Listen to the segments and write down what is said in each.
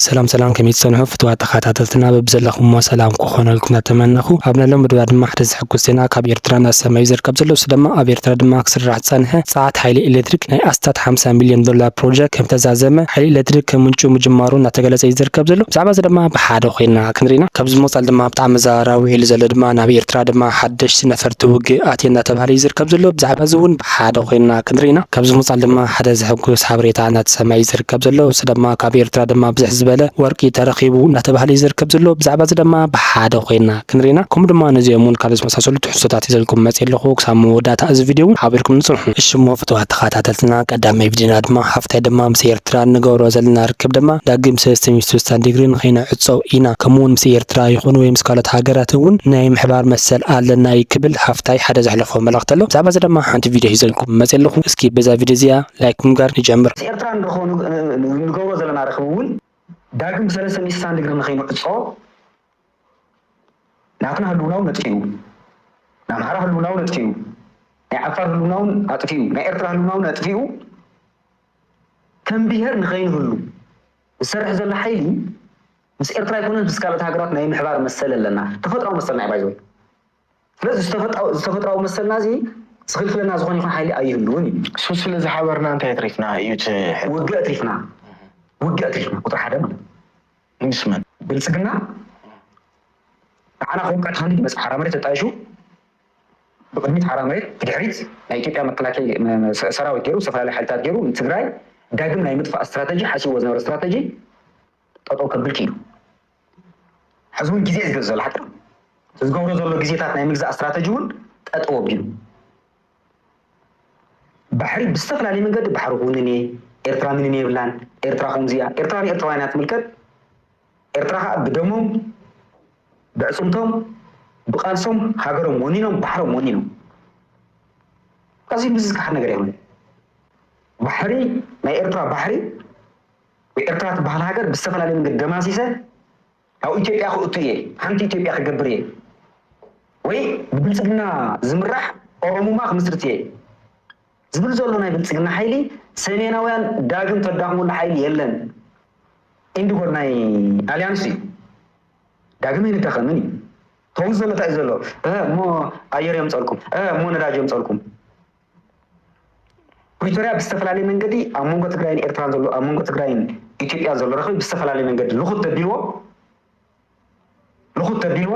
ሰላም ሰላም ከመይ ትሰንሑ ፍትዋት ተኻታተልትና በብዘለኹሞ ሰላም ኩኾነልኩም ናተመነኹ ኣብ ነሎ ምድባ ድማ ሓደ ዘሕጉስ ዜና ካብ ኤርትራ ናሰማዩ ዝርከብ ዘሎ እሱ ደማ ኣብ ኤርትራ ድማ ክስራሕ ዝጸንሐ ጸዓት ሓይሊ ኤሌትሪክ ናይ ኣስታት ሓምሳ ሚልዮን ዶላር ፕሮጀክ ከምተዛዘመ ሓይሊ ኤሌትሪክ ከምንጩ ምጅማሩ ናተገለጸ እዩ ዝርከብ ዘሎ ብዛዕባ እዚ ደማ ብሓደ ኮይና ክንሪና ካብዚ ምቕጻል ደማ ብጣዕሚ ኣዘራራቢ ውዒሉ ዘሎ ድማ ናብ ኤርትራ ደማ ሓደሽቲ ነፈርቲ ውግእ ኣትየን ናተባህለ እዩ ዝርከብ ዘሎ ብዛዕባ እዚ ውን ብሓደ ኮይና ክንርኢ ኢና። ካብዚ ምውጻል ድማ ሓደ ዘሕጉስ ሓበሬታ እናተሰምዐ እዩ ዝርከብ ዘሎ። እዚ ደማ ካብ ኤርትራ ደማ ብዝሕ ዝበለ ወርቂ ተረኺቡ እናተባህለ እዩ ዝርከብ ዘሎ። ብዛዕባ እዚ ደማ ብሓደ ኮይና ክንርኢ ኢና። ከምኡ ድማ ነዚኦም ውን ካልኦት ዝመሳሰሉ ትሕዝቶታት ሒዘልኩም መጽየ ኣለኹ። ክሳብ መወዳእታ እዚ ቪድዮ ውን ሓቢርኩምኒ ጽንሑ። እሺ እሞ ፍትዋት ተኻታተልትና ቀዳማይ ቪድዮና ድማ ሓፍታይ ደማ ምስ ኤርትራን ንገብሮ ዘለና ርክብ ድማ ዳግም ሰለስተ ሚእቲ ስሳን ዲግሪ ንኸይንዕጾ ኢና፣ ከምኡ'ውን ምስ ኤርትራ ይኹን ወይ ምስ ካልኦት ሃገራት እውን ናይ ምሕባር መሰል ኣለና እዩ ክብል ሃፍታይ ሓደ ዘሕለፎ መልእኽቲ ኣሎ። ብዛዕባ'ዚ ድማ ሓንቲ ቪድዮ ሒዘልኩም መጺኣ ኣለኹ። እስኪ በዛ ቪድዮ እዚኣ ላይክ ብምግባር ንጀምር። ምስ ኤርትራን ንገብሮ ዘለና ርክብ እውን ዳግም ሰለስተ ሚእቲ ስሳን ዲግሪ ንኸይንዕጾ ናትና ህልውና'ውን ነጥፊኡ፣ ናይ ኣምሓራ ህልውና'ውን ኣጥፊኡ፣ ናይ ዓፋር ህልውና'ውን ኣጥፊኡ፣ ናይ ኤርትራ ህልውና'ውን ኣጥፊኡ ከም ብሄር ንኸይንህሉ ዝሰርሕ ዘሎ ሓይሊ ምስ ኤርትራ ኣይኮነን ምስ ካልኦት ሃገራት ናይ ምሕባር መሰል ኣለና። ተፈጥራዊ መሰልና እዩ ባይ ዘ ወይ። ስለዚ ዝተፈጥራዊ መሰልና እዚ ዝኽልክለና ዝኾነ ይኹን ሓይሊ ኣይህልውን እዩ። ሱስ ስለ ዝሓበርና እንታይ ኣትሪፍና እዩ እቲ ሕቶ። ውግእ ኣትሪፍና። ውግእ ኣትሪፍና ቁጽሪ ሓደ ማለት እዩ። ምስ መን? ብልጽግና ንዓና ከውቅዕ ተኸሊሉ መጽ ሓራ መሬት ኣጣይሹ ብቅድሚት ሓራ መሬት ብድሕሪት ናይ ኢትዮጵያ መከላከያ ሰራዊት ገይሩ ዝተፈላለዩ ሓይልታት ገይሩ ንትግራይ ዳግም ናይ ምጥፋእ ስትራተጂ ሓሲብዎ ዝነበረ ስትራተጂ ጠጠው ከብል ክኢሉ ሕዚ እውን ግዜ እዩ ዝገዝ ዘሎ ሓቂ ዝገብሮ ዘሎ ግዜታት ናይ ምግዛእ ስትራተጂ እውን ጠጠው ኣቢሉ ባሕሪ ብዝተፈላለየ መንገዲ ባሕሪ ኩውንን እየ ኤርትራ ምንም የብላን ኤርትራ ከምዚ እያ ኤርትራ ንኤርትራውያን እያ ትምልከት ኤርትራ ከኣ ብደሞም ብዕጽምቶም ብቃልሶም ሃገሮም ወኒኖም ባሕሮም ወኒኖም ኣዚ ዝካሓድ ነገር ኣይኮነን ባሕሪ ናይ ኤርትራ ባሕሪ ወይ ኤርትራ ትበሃል ሃገር ብዝተፈላለየ መንገዲ ደማሲሰ ናብ ኢትዮጵያ ክእቱ እየ ሓንቲ ኢትዮጵያ ክገብር እየ ወይ ብብልጽግና ዝምራሕ ኦሮሙማ ክምስርት እየ ዝብል ዘሎ ናይ ብልጽግና ሓይሊ ሰሜናውያን ዳግም ተዳኽመሉ ሓይሊ የለን ኢንድጎር ናይ ኣልያንስ እዩ ዳግም ኣይንዳኸምን እዩ ተውዝ ዘሎ ታይ ዘሎ እሞ ኣየር የምፀልኩም እሞ ነዳጅ የምፀልኩም ፕሪቶሪያ ብዝተፈላለየ መንገዲ ኣብ መንጎ ትግራይን ኤርትራን ዘሎ ኣብ መንጎ ትግራይን ኢትዮጵያ ዘሎ ረኽቢ ብዝተፈላለየ መንገዲ ልኹት ተቢልዎ ምኹት ተቢልዎ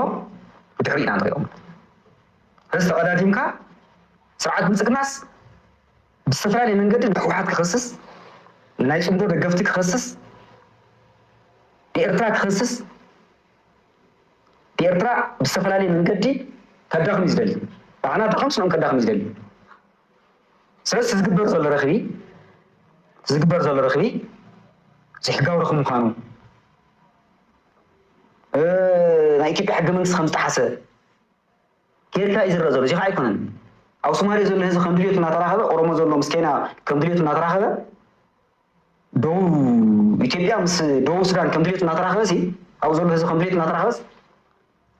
ብድሕሪና እንሪኦም ርእሲ ተቐዳዲምካ ስርዓት ብልፅግናስ ብዝተፈላለየ መንገዲ ንሕወሓት ክኸስስ ንናይ ፅምዶ ደገፍቲ ክኸስስ ንኤርትራ ክኸስስ ንኤርትራ ብዝተፈላለየ መንገዲ ከዳኽም እዩ ዝደሊ ንዓና ኣዳኸምስ ንኦም ከዳኽም እዩ ዝደሊ ስለዚ እቲ ዝግበር ዘሎ ረኽቢ እቲ ዝግበር ዘሎ ረኽቢ ዘይሕጋዊ ረኽቢ ምዃኑ ናይ ኢትዮጵያ ሕገ መንግስቲ ከም ዝጠሓሰ ጌርካ እዩ ዝረአ ዘሎ እዚ ከዓ ኣይኮነን ኣብ ሶማሌ ዘሎ ህዝቢ ከም ድልዮቱ እናተራኸበ ኦሮሞ ዘሎ ምስ ኬንያ ከም ድልዮቱ እናተራኸበ ደቡብ ኢትዮጵያ ምስ ደቡብ ሱዳን ከም ድልዮቱ እናተራኸበ ሲ ኣብ ዘሎ ህዝቢ ከም ድልዮቱ እናተራኸበስ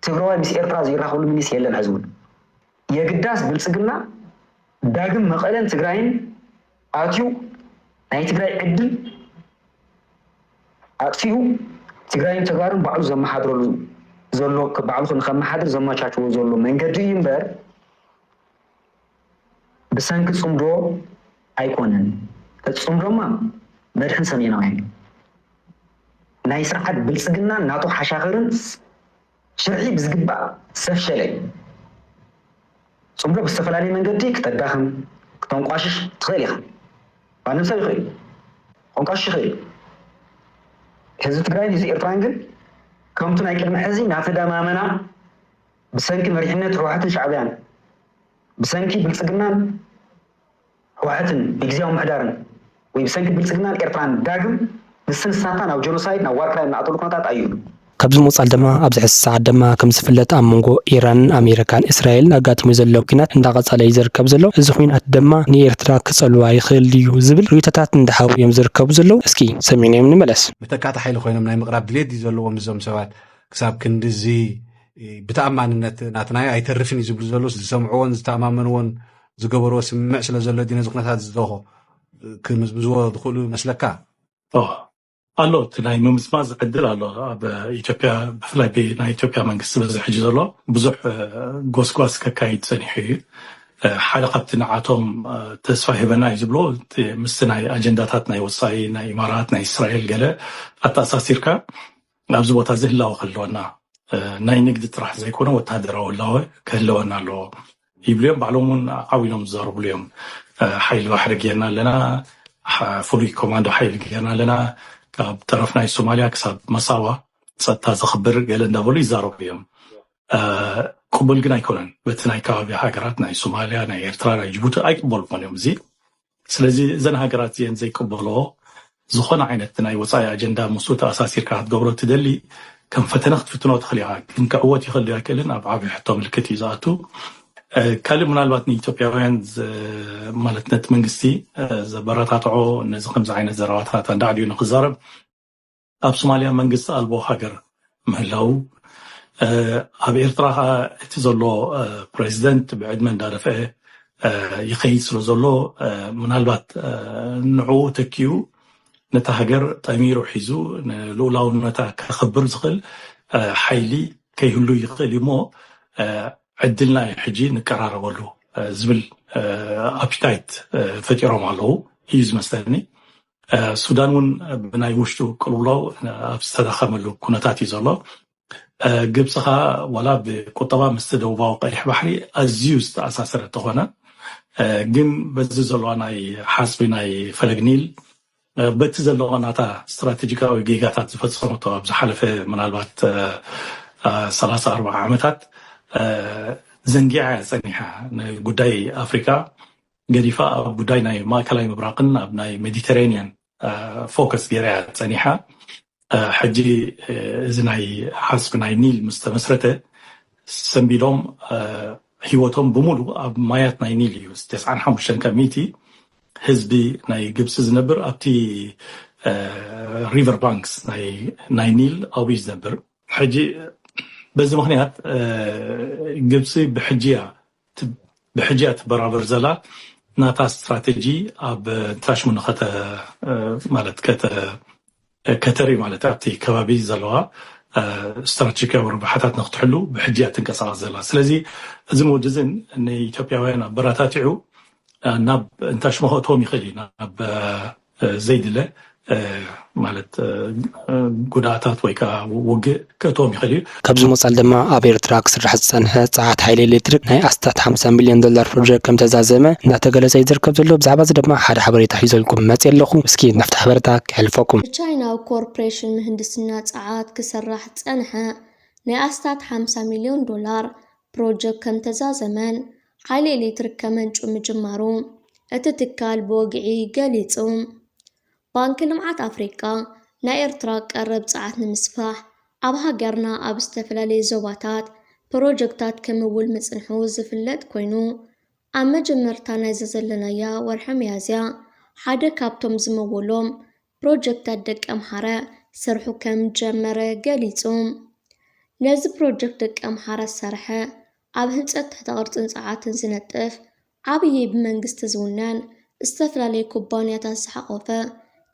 ትግራዋይ ምስ ኤርትራ ዘይራኸብሉ ሚኒስ የለን ሕዚ እውን የግዳስ ብልፅግና ዳግም መቐለን ትግራይን ኣትዩ ናይ ትግራይ ዕድል ኣጥፊኡ ትግራይን ተጋሩን ባዕሉ ዘመሓድረሉ ዘሎ ባዕሉ ንከመሓድር ዘመቻችዎ ዘሎ መንገዲ እዩ እምበር ብሰንኪ ፅምዶ ኣይኮነን። እቲ ፅምዶማ መድሕን ሰሜናውያን ናይ ስርዓት ብልፅግናን ናቱ ሓሻኽርን ሽርሒ ብዝግባእ ዝተፍሸለ እዩ። ጽምዶ ብዝተፈላለየ መንገዲ ክተዳኽም፣ ክተንቋሽሽ፣ ትኽእል ኢኻ። ማንም ሰብ ይኽእል'ዩ። ከንቋሽሽ ይኽእል እዩ። ህዝቢ ትግራይን ህዝቢ ኤርትራን ግን ከምቱ ናይ ቅድሚ ሕዚ ናተደማመና ብሰንኪ መሪሕነት ህወሓትን ሻዕብያን ብሰንኪ ብልጽግናን ህወሐትን ብግዝያዊ ምምሕዳርን ወይ ብሰንኪ ብልጽግናን ኤርትራን ዳግም ንስንስናታ ናብ ጆኖሳይድ ናብ ዋርክላይም ንኣትወሉ ኩነታት ኣይህሉን። ካብዚ ምቕጻል ድማ ኣብዚ ሕዚ ሰዓት ድማ ከም ዝፍለጥ ኣብ መንጎ ኢራንን ኣሜሪካን እስራኤልን ኣጋጢሙ ዘሎ ኩናት እንዳቐጸለ እዩ ዝርከብ ዘሎ እዚ ኩናት ድማ ንኤርትራ ክጸልዋ ይኽእል ድዩ ዝብል ርእይቶታት እንዳሃቡ እዮም ዝርከቡ ዘለዉ እስኪ ሰሚዕናዮም ንመለስ። መተካእታ ሓይሊ ኮይኖም ናይ ምቕራብ ድሌት ድዩ ዘለዎም እዞም ሰባት ክሳብ ክንድዚ ብተኣማንነት ናትናዮ ኣይተርፍን እዩ ዝብሉ ዘለዉስ ዝሰምዕዎን ዝተኣማመንዎን ዝገበርዎ ስምምዕ ስለ ዘሎ ድዩ ነዚ ኩነታት እዚ ደሆ ክምዝምዝዎ ዝኽእሉ ይመስለካ? ኣሎ እቲ ናይ ምምዝማዝ ዕድል ኣሎ ኣብ ኢትዮጵያ ብፍላይ ናይ ኢትዮጵያ መንግስቲ በዚ ሕጂ ዘሎ ብዙሕ ጎስጓስ ከካይድ ፀኒሑ እዩ ሓደ ካብቲ ንዓቶም ተስፋ ሂበና እዩ ዝብሎ ምስቲ ናይ ኣጀንዳታት ናይ ወፃኢ ናይ ኢማራት ናይ እስራኤል ገለ ኣተኣሳሲርካ ኣብዚ ቦታ እዚ ህላወ ክህልወና ናይ ንግዲ ጥራሕ ዘይኮነ ወታደራዊ ህላወ ክህልወና ኣለዎ ይብሉ እዮም ባዕሎም እውን ዓው ኢሎም ዝዘርብሉ እዮም ሓይሊ ባሕሪ ጌርና ኣለና ፍሉይ ኮማንዶ ሓይሊ ጌርና ኣለና ካብ ጠረፍ ናይ ሶማልያ ክሳብ መሳዋ ፀጥታ ዘኽብር ገለ እንዳበሉ ይዛረቡ እዮም ቅቡል ግን ኣይኮነን በቲ ናይ ከባቢ ሃገራት ናይ ሶማልያ ናይ ኤርትራ ናይ ጅቡቲ ኣይቅበልዎን እዮም እዚ ስለዚ እዘን ሃገራት እዚኤን ዘይቅበልኦ ዝኾነ ዓይነት ናይ ወፃኢ ኣጀንዳ ምስኡ ተኣሳሲርካ ክትገብሮ እትደሊ ከም ፈተነ ክትፍትኖ ትኽእል ኢኻ ግን ክዕወት ይኽእል ዶ ኣይክእልን ኣብ ዓብዪ ሕቶ ምልክት እዩ ዝኣቱ ካልእ ምናልባት ንኢትዮጵያውያን ማለት ነቲ መንግስቲ ዘበረታትዖ ነዚ ከምዚ ዓይነት ዘረባታት ኣንዳዕድዩ ንክዛረብ ኣብ ሶማልያ መንግስቲ ኣልቦ ሃገር ምህላው ኣብ ኤርትራ ከዓ እቲ ዘሎ ፕሬዚደንት ብዕድመ እንዳደፍአ ይኸይድ ስለ ዘሎ ምናልባት ንዕኡ ተኪኡ ነታ ሃገር ጠሚሩ ሒዙ ንልኡላውነታ ከኽብር ዝኽእል ሓይሊ ከይህሉ ይኽእል እዩ እሞ ዕድልና እዩ ሕጂ ንቀራረበሉ ዝብል ኣፒታይት ፈጢሮም ኣለዉ እዩ ዝመስለኒ ሱዳን እውን ብናይ ውሽጡ ቅልውላው ኣብ ዝተዳኸመሉ ኩነታት እዩ ዘሎ ግብፂ ከዓ ዋላ ብቁጠባ ምስቲ ደቡባዊ ቀይሕ ባሕሪ ኣዝዩ ዝተኣሳሰረ ተኾነ ግን በዚ ዘለዋ ናይ ሓፅቢ ናይ ፈለግ ኒል በቲ ዘለዎ ናታ ስትራቴጂካዊ ጌጋታት ዝፈፀመቶ ኣብ ዝሓለፈ ምናልባት 34 ዓመታት ዘንጊዓ ፀኒሓ ንጉዳይ ኣፍሪካ ገዲፋ ኣብ ጉዳይ ናይ ማእከላይ ምብራቅን ኣብ ናይ ሜዲተራኒያን ፎከስ ገይራ እያ ፀኒሓ ሕጂ እዚ ናይ ሓስብ ናይ ኒል ምስ ተመስረተ ሰንቢዶም ሂወቶም ብምሉ ኣብ ማያት ናይ ኒል እዩ ተስዓን ሓሙሽተን ካብ ሚእቲ ህዝቢ ናይ ግብፂ ዝነብር ኣብቲ ሪቨር ባንክስ ናይ ኒል ኣብዩ ዝነብር ሕጂ በዚ ምክንያት ግብፂ ብሕጂ እያ እቲ ብሕጂኣ ትበራበር ዘላ ናታ ስትራተጂ ኣብ ትራሽሙ ንከተ ማለት ከተ ከተሪ ማለት ኣብቲ ከባቢ ዘለዋ ስትራቴጂካዊ ረብሓታት ንክትሕሉ ብሕጂ እያ ትንቀሳቐስ ዘላ ስለዚ እዚ መወዲ እዚን ንኢትዮጵያውያን ኣበረታቲዑ ናብ እንታሽመ ከእትዎም ይኽእል እዩ ናብ ዘይድለ ማለት ጉድኣታት ወይ ከኣ ውግእ ከእትዎም ይኽእል እዩ። ካብዚ ወጻኢ ድማ ኣብ ኤርትራ ክስራሕ ዝጸንሐ ጸዓት ሓይሊ ኤሌክትሪክ ናይ ኣስታት ሓምሳ ሚልዮን ዶላር ፕሮጀክት ከምተዛዘመ እንዳተገለጸ እዩ ዝርከብ ዘሎ። ብዛዕባዚ ድማ ሓደ ሓበሬታ ሒዘልኩም መጽየ ኣለኹ። እስኪ ናብቲ ሓበረታ ከሕልፈኩም። ብቻይናዊ ኮርፕሬሽን ምህንድስና ጸዓት ክስራሕ ዝጸንሐ ናይ ኣስታት ሓምሳ ሚልዮን ዶላር ፕሮጀክት ከምተዛዘመን ሓይሊ ኤሌክትሪክ ከመንጩ ምጅማሩ እቲ ትካል ብወግዒ ገሊጹ። ባንኪ ልምዓት ኣፍሪቃ ናይ ኤርትራ ቀረብ ጸዓት ንምስፋሕ ኣብ ሃገርና ኣብ ዝተፈላለየ ዞባታት ፕሮጀክታት ክምውል ምጽንሑ ዝፍለጥ ኮይኑ ኣብ መጀመርታ ናይዛ ዘለናያ ወርሒ ሚያዝያ ሓደ ካብቶም ዝመወሎም ፕሮጀክታት ደቂ ኣምሓራ ስርሑ ከምዝጀመረ ገሊፁ። ነዚ ፕሮጀክት ደቂ ኣምሓራ ዝሰርሐ ኣብ ህንፀት ትሕተ ቅርፅን ፀዓትን ዝነጥፍ ዓብዪ ብመንግስቲ ዝውነን ዝተፈላለዩ ኩባንያታት ዝሓቖፈ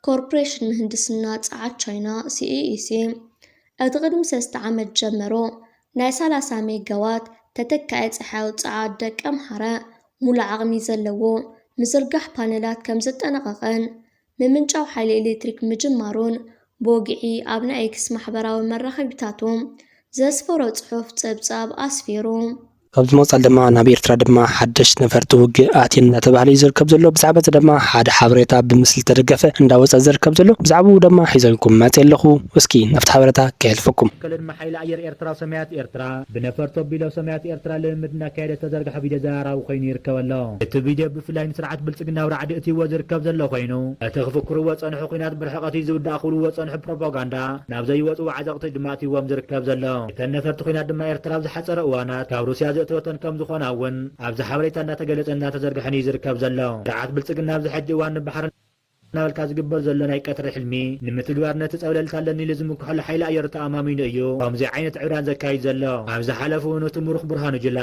ኮርፖሬሽን ምህንድስና ፀዓት ቻይና፣ CEEC፣ እቲ ቅድሚ ሰለስተ ዓመት ዝጀመሮ ናይ ሰላሳ ሜጋዋት ተተካኢ ፀሓያዊ ፀዓት ደቂ ኣምሓራ ሙሉእ ዓቕሚ ዘለዎ ምዝርጋሕ ፓነላት ከምዘጠናቐቐን ምምንጫው ሓይሊ ኤሌክትሪክ ምጅማሩን ብወግዒ ኣብ ናይ ኤክስ ማሕበራዊ መራኸቢታቱ ዘስፈሮ ጽሑፍ ጸብጻብ ኣስፊሩ። ኣብዚ ምቕጻል ድማ ናብ ኤርትራ ድማ ሓደሽት ነፈርቲ ውግእ ኣትየን እንዳተባህለ እዩ ዝርከብ ዘሎ ብዛዕባ እዚ ደማ ሓደ ሓበሬታ ብምስሊ ዝተደገፈ እንዳወጸ ዝርከብ ዘሎ ብዛዕብኡ ደማ ሒዘልኩም መጼ ኣለኹ እስኪ ናብቲ ሓበረታ ከየሕልፈኩም። ሓይሊ ኣየር ኤርትራ ሰማያት ኤርትራ ብነፈርቱ ኣቢሉ ኣብ ሰማያት ኤርትራ ልምምድ እናካየደ ዝተዘርግሐ ቪድዮ ዘራራቢ ኮይኑ ይርከብ ኣሎ። እቲ ቪድዮ ብፍላይ ንስርዓት ብልጽግና ኣብ ራዕዲ እትይዎ ዝርከብ ዘሎ ኮይኑ፣ እቲ ክፍክርዎ ዝጸንሑ ኲናት ብርሕቐት እዩ ዝውዳእ ክብልዎ ዝጸንሑ ፕሮፓጋንዳ ናብ ዘይወጽኡ ዓዘቕቲ ድማ ኣትይዎም ዝርከብ ዘሎ። እተን ነፈርቲ ኲናት ድማ ኤርትራ ኣብ ዝሓጸረ እዋናት ካብ ሩስያ ዘእተወተን ከም ዝኾና እውን ኣብዚ ሓበሬታ እናተገለጸን እናተዘርግሐን እዩ ዝርከብ ዘሎ። ስርዓት ብልጽግና ኣብዚ ሕጂ እዋን ንባሕርን፣ እናበልካ ዝግበር ዘሎ ናይ ቀትሪ ሕልሚ ንምትግባር ነቲ ጸብለልታ ኣለኒ ኢሉ ዝምክሐሉ ሓይሊ ኣየሩ ተኣማሚኑ እዩ ከምዚ ዓይነት ዕብዳን ዘካይድ ዘሎ። ኣብ ዝሓለፈ እውን እቲ ምሩኽ ብርሃኑ ጁላ፣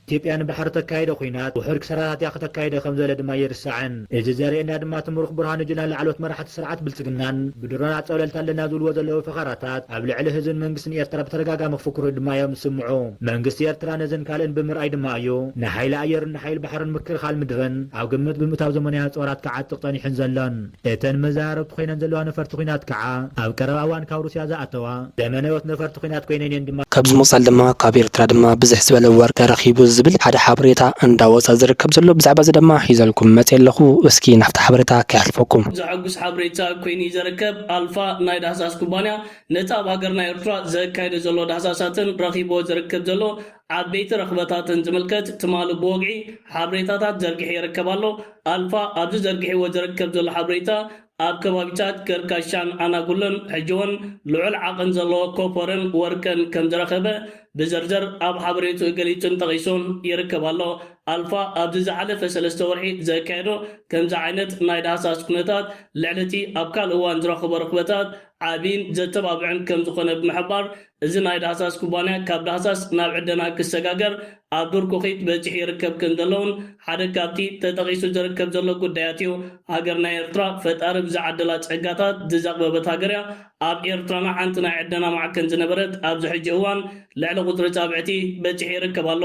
ኢትዮጵያ ንባሕሪ እተካይዶ ኲናት ውሑድ ክሳራታት እያ ከተካይዶ ከም ዘለ ድማ ኣይርሳዕን። እዚ ዘርእየና ድማ እቲ ምሩኽ ብርሃኑ ጁላን ላዕለዎት መራሕቲ ስርዓት ብልጽግናን ብድሮናት ጸብለልታ ኣለና ዝብልዎ ዘለዉ ፈኸራታት ኣብ ልዕሊ ህዝብን መንግስትን ኤርትራ ብተደጋጋሚ ክፍክሩ ድማ እዮም ዝስምዑ። መንግስቲ ኤርትራ ነዝን ካልእን ብምርኣይ ድማ እዩ ንሓይሊ ኣየሩ ሓይሊ ባሕርን ምክልኻል ምድርን ኣብ ግምት ብምእታው ዘመናዊ ኣፅዋራት ክዓጥቕ ፀኒሑን ዘሎን። እተን መዘራረብቲ ኮይነን ዘለዋ ነፈርቲ ኲናት ከዓ ኣብ ቀረባ እዋን ካብ ሩስያ ዝኣተዋ ዘመነዎት ነፈርቲ ኲናት ኮይነን እየን ድማ። ካብዚ ምቕፃል ድማ ካብ ኤርትራ ድማ ብዝሕ ዝበለ ወርቂ ረኺቡ ዝብል ሓደ ሓበሬታ እንዳወፀ ዝርከብ ዘሎ ብዛዕባ እዚ ድማ ሒዘልኩም መፅየ ኣለኹ እስኪ ናብቲ ሓበሬታ ከይሓልፈኩም። ዘሐጉስ ሓበሬታ ኮይኑ እዩ ዘርከብ። ኣልፋ ናይ ዳህሳስ ኩባንያ ነቲ ኣብ ሃገርና ኤርትራ ዘካይዶ ዘሎ ዳህሳሳትን ረኺብዎ ዝርክብ ዘሎ ዓበይቲ ረኽበታትን ዝምልከት ትማል ብወግዒ ሓብሬታታት ዘርጊሑ ይርከብ ኣሎ። ኣልፋ ኣብዚ ዘርጊሕዎ ዝርከብ ዘሎ ሓብሬታ ኣብ ከባቢታት ገርካሻን ኣናጉሎን ሕጂ'ውን ልዑል ዓቕን ዘለዎ ኮፐርን ወርቅን ከም ዝረኸበ ብዝርዝር ኣብ ሓበሬትኡ ገሊጹን ጠቒሱን ይርከብ ኣሎ። ኣልፋ ኣብዚ ዝሓለፈ ሰለስተ ወርሒ ዘካየዶ ከምዚ ዓይነት ናይ ዳህሳስ ኩነታት ልዕሊ'ቲ ኣብ ካልእ እዋን ዝረኸቦ ርኽበታት ዓቢን ዘተባብዕን ከም ዝኾነ ብምሕባር እዚ ናይ ዳህሳስ ኩባንያ ካብ ዳህሳስ ናብ ዕደና ክሰጋገር ኣብ ዱር ኩኺት በጺሑ ይርከብ ከምዘሎ'ውን ሓደ ካብቲ ተጠቒሱ ዝርከብ ዘሎ ጉዳያት እዩ። ሃገርና ኤርትራ ፈጣሪ ብዝዓደላ ጸጋታት ዝዘቕበበት ሃገር እያ። ኣብ ኤርትራና ሓንቲ ናይ ዕደና ማዕከን ዝነበረት ኣብዚ ሕጂ እዋን ልዕሊ ቁጽሪ ጻብዕቲ በጺሑ ይርከብ ኣሎ።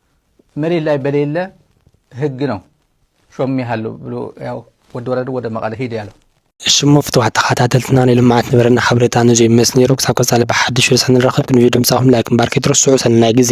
መሬት ላይ በሌለ ህግ ነው ሾሜ ሀሉ ብሎ ያው ወዲ ወረዱ ወደ መቀለ ሂድ ያለው። እሺ እሞ ፍትዋት ተኸታተልትና ናይ ልምዓት ነበረና ሓበሬታ ነዙይ መስ ነይሩ ክሳብ ቀፃሊ ብሓድሽ ርእሰ ንራኸብ ክንቪ ድምፃኹም ላይክ ምባር ከይትረስዑ ሰናይ ግዜ